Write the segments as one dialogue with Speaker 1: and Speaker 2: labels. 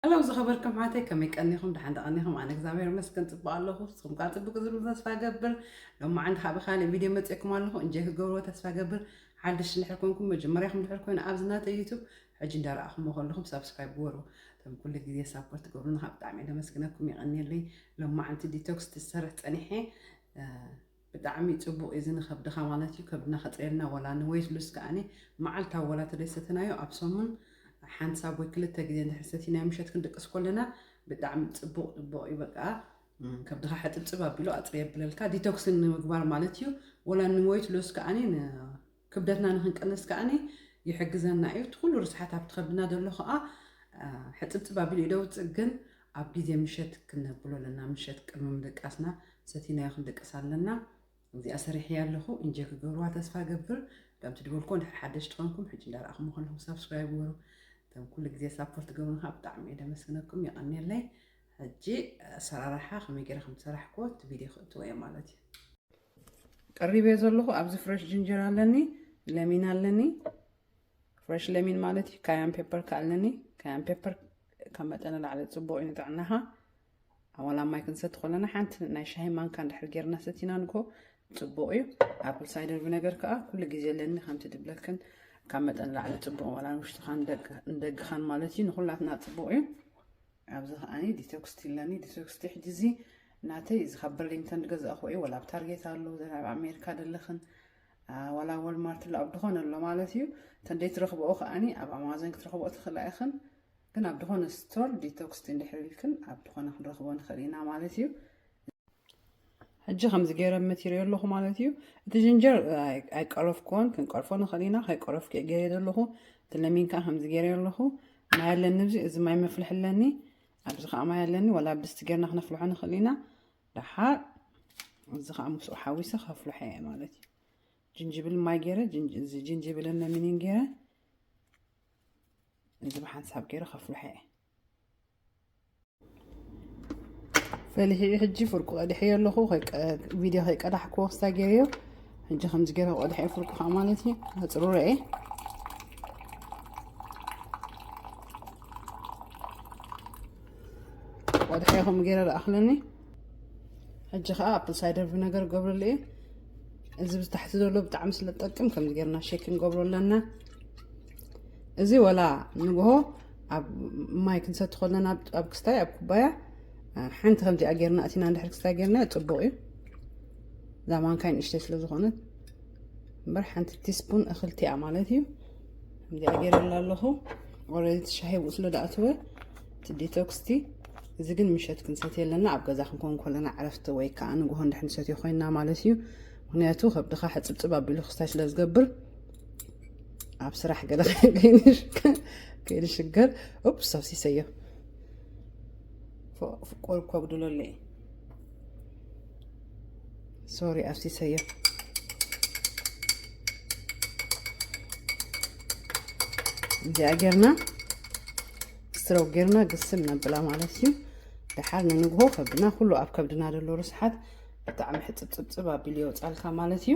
Speaker 1: ሃለው ዝኸበርኩም ኣሕዋተይ ከመይ ቀኒኹም ደሓን ዶ ቀኒኹም ኣነ እግዚኣብሔር ይመስገን ፅቡቅ ኣለኹ ንስኹም ከዓ ፅቡቅ እዩ ዝብል ተስፋ እገብር ሎማዓንቲ ከዓ ብካሊእ ቪድዮ መፅእኩም ኣለኹ እንጆይ ክትገብርዎ ተስፋ እገብር ሓድሽ እንድሕር ኮንኩም መጀመርያኹም እንድሕር ኮይኑ ኣብዚ ናተይ ዩቱብ ሕጂ እንዳረኣኹምዎ ከለኹም ሳብስክራይብ ግበሩ እቶም ኩሉ ግዜ ሳፖርት ትገብሩና ከዓ ብጣዕሚ እየ ለመስግነኩም የቀኒየለይ ሎማዓንቲ ዲቶክስ ትሰርሕ ፀኒሐ ብጣዕሚ ጽቡቅ እዚ ንከብድካ ማለት እዩ ከብድና ከጸየልና ወላ ን ዌይት ሉስ ከኣኒ መዓልታዊ ወላ ተደይሰተናዮ ኣብ ሰሙን ሓንሳብ ወይ ክልተ ግዜ እንድሕር ሰቲናዮ ምሸት ክንድቅስ ኮለና ብጣዕሚ ጽቡቅ ጽቡቅ እዩ በቃ ከብድካ ሕጽብጽብ ኣቢሉ ኣጽሪ የብለልካ ዲቶክስ ንምግባር ማለት እዩ ወላ ን ዌይት ሉስ ከኣኒ ን ክብደትና ንኽንቅንስ ከኣኒ ይሕግዘና እዩ። እቲ ኩሉ ርስሓት ኣብቲ ከብድና ዘሎ ከኣ ሕጽብጽብ ኣቢሉ እዩ ደውጽእ። ግን ኣብ ግዜ ምሸት ክነብሎ ኣለና። ምሸት ቅድሚ ምድቃስና ሰቲናዮ ክንድቅስ ኣለና። እዚኣ ሰሪሕያ ኣለኹ። ኢንጆይ ክገብርዋ ተስፋ እገብር። ከም ትድበልኩ ድሕሪ ሓደሽቲ ኮንኩም ሕጂ እንዳረኣኹም ከለኹም ሳብስክራይብ ግበሩ። እቶም ኩሉ ግዜ ሳፖርት ትገብሩን ከዓ ብጣዕሚ እየ ደመስግነኩም የቐንየለይ። ሕጂ ኣሰራርሓ ከመይ ገይረ ከም ዝሰራሕክዎ እቲ ቪድዮ ክእትዎ እየ ማለት እዩ። ቀሪበዮ ዘለኹ ኣብዚ ፍረሽ ጅንጀር ኣለኒ ለሚን ኣለኒ ፍረሽ ለሚን ማለት እዩ ካያን ፔፐር ከ ኣለኒ ካያን ፔፐር ካብ መጠን ንላዕሊ ፅቡቅ እዩ ንጥዕናኻ ኣዋላ ማይ ክንሰቲ ከለና ሓንቲ ናይ ሻሂ ማንካ እንድሕር ጌርና ሰቲና ንግሆ ፅቡቅ እዩ ኣፕል ሳይደር ቪነገር ከዓ ኩሉ ግዜ ኣለኒ ከምቲ ድብለክን ካብ መጠን ላዕሊ ፅቡቅ ዋላ ንውሽጥኻን ንደግኻን ማለት እዩ ንኩላትና ፅቡቅ እዩ ኣብዚ ከኣ ዲቶክስቲ ኣለኒ ዲቶክስቲ ሕጂ እዚ ናተይ እዚ ካብ በርሊንግተን ዝገዛእኹ እዩ ወላ ኣብ ታርጌት ኣሎ ዘን ኣብ ኣሜሪካ ደለኽን ዋላ ወልማርት ኣሎ ኣብ ድኾነ ኣሎ ማለት እዩ ተንደይ ትረኽብኦ ከኣኒ ኣብ ኣማዞን ክትረኽብኦ ትኽእላ ኢኽን ግን ኣብ ድኾነ ስቶር ዲቶክስቲ እንድሕር ኢልክን ኣብ ድኾነ ክንረኽቦ ንኽእል ኢና ማለት እዩ ሕጂ ከምዚ ገይረ መቲረዮ ኣለኹ ማለት እዩ እቲ ጅንጀር ኣይቀረፍኩዎን ክንቀርፎ ንኽእል ኢና ከይቀረፍኩ እየ ገይረ ዘለኹ እቲ ለሚን ከዓ ከምዚ ገይረ ኣለኹ ማይ ኣለኒ እዚ እዚ ማይ መፍልሒ ኣለኒ ኣብዚ ከዓ ማይ ኣለኒ ዋላ ብስቲ ገርና ክነፍልሖ ንኽእል ኢና ደሓር እዚ ከዓ ምስኡ ሓዊሰ ከፍልሖ እየ ማለት እዩ ጅንጅብል ማይ ገይረ እዚ ጅንጅብልን ለሚንን ገይረ እዚ ብሓንሳብ ገይረ ከፍልሖ እየ ፈሊሒኡ ሕጂ ፍርቁ ቀዲሐዮ ኣለኹ ቪድዮ ከይቀዳሕኩ ወስታ ገይረዮ ሕጂ ከምዚ ገይረ ቆዲሐ ፍርቁ ከዓ ማለት እዩ ኣፅሩረ እየ ቆዲሐ ከምኡ ገይረ ረኣኽለኒ ሕጂ ከዓ ኣፕል ሳይደር ቪነገር ገብረሉ እየ እዚ ብታሕቲ ዘሎ ብጣዕሚ ስለ ዝጠቅም ከምዚ ገይርና ሼክ ንገብሮ ኣለና እዚ ወላ ንግሆ ኣብ ማይ ክንሰቲ ከለና ኣብ ክስታይ ኣብ ኩባያ ሓንቲ ከምዚኣ ጌርና እቲና እንድሕር ክስታይ ጌርና ፅቡቅ እዩ እዛ ማንካይ ንእሽተይ ስለ ዝኾነት እምበር ሓንቲ ቲስፑን እኽልቲያ ማለት እዩ ከምዚኣ ጌረላ ኣለኹ ኦረዲ ትሻሂ ብኡ ስለ ዳኣተወ እቲ ዲቶክስቲ እዚ ግን ምሸት ክንሰት የለና ኣብ ገዛ ክንከውን ከለና ዕረፍቲ ወይ ከዓ ንግሆ እንድሕር ንሰትዮ ኮይና ማለት እዩ ምክንያቱ ከብድኻ ሕፅብፅብ ኣቢሉ ክስታይ ስለ ዝገብር ኣብ ስራሕ ገለ ከይንሽገር ኡፕ ሰብሲሰዮ ቆል ኮጉድሎ ኣለ ሶሪ ኣብሲሰዮ እዚኣ ጌርና ስትረው ጌርና ግስል ነብላ ማለት እዩ ደሓር ንንግሆ ከብድና ኩሉ ኣብ ከብድና ዘሎ ርስሓት ብጣዕሚ ሕፅብፅብፅብ ኣቢሉ የውፃልካ ማለት እዩ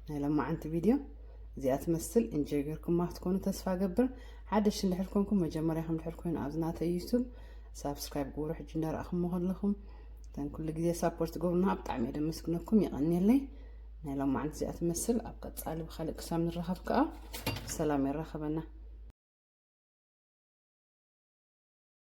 Speaker 1: ናይ ለማዓንቲ ቪድዮ እዚኣ ትመስል እንጆይ ገርኩማ ክትኮኑ ተስፋ ገብር ሓደሽ እንድሕር ኮንኩም መጀመርያኹም ድሕር ኮይኑ ኣብዚ ናተይ ዩቱብ ሳብስክራይብ ግብሩ ሕጂ እንዳረኣኹሞ ከለኹም እተን ኩሉ ግዜ ሳፖርት ትገብሩና ብጣዕሚ እየ ደመስግነኩም የቐንየለይ ናይ ሎማዓንቲ እዚኣ ትመስል ኣብ ቀፃሊ ብካልእ ክሳብ ንራኸብ ከዓ ብሰላም የራኸበና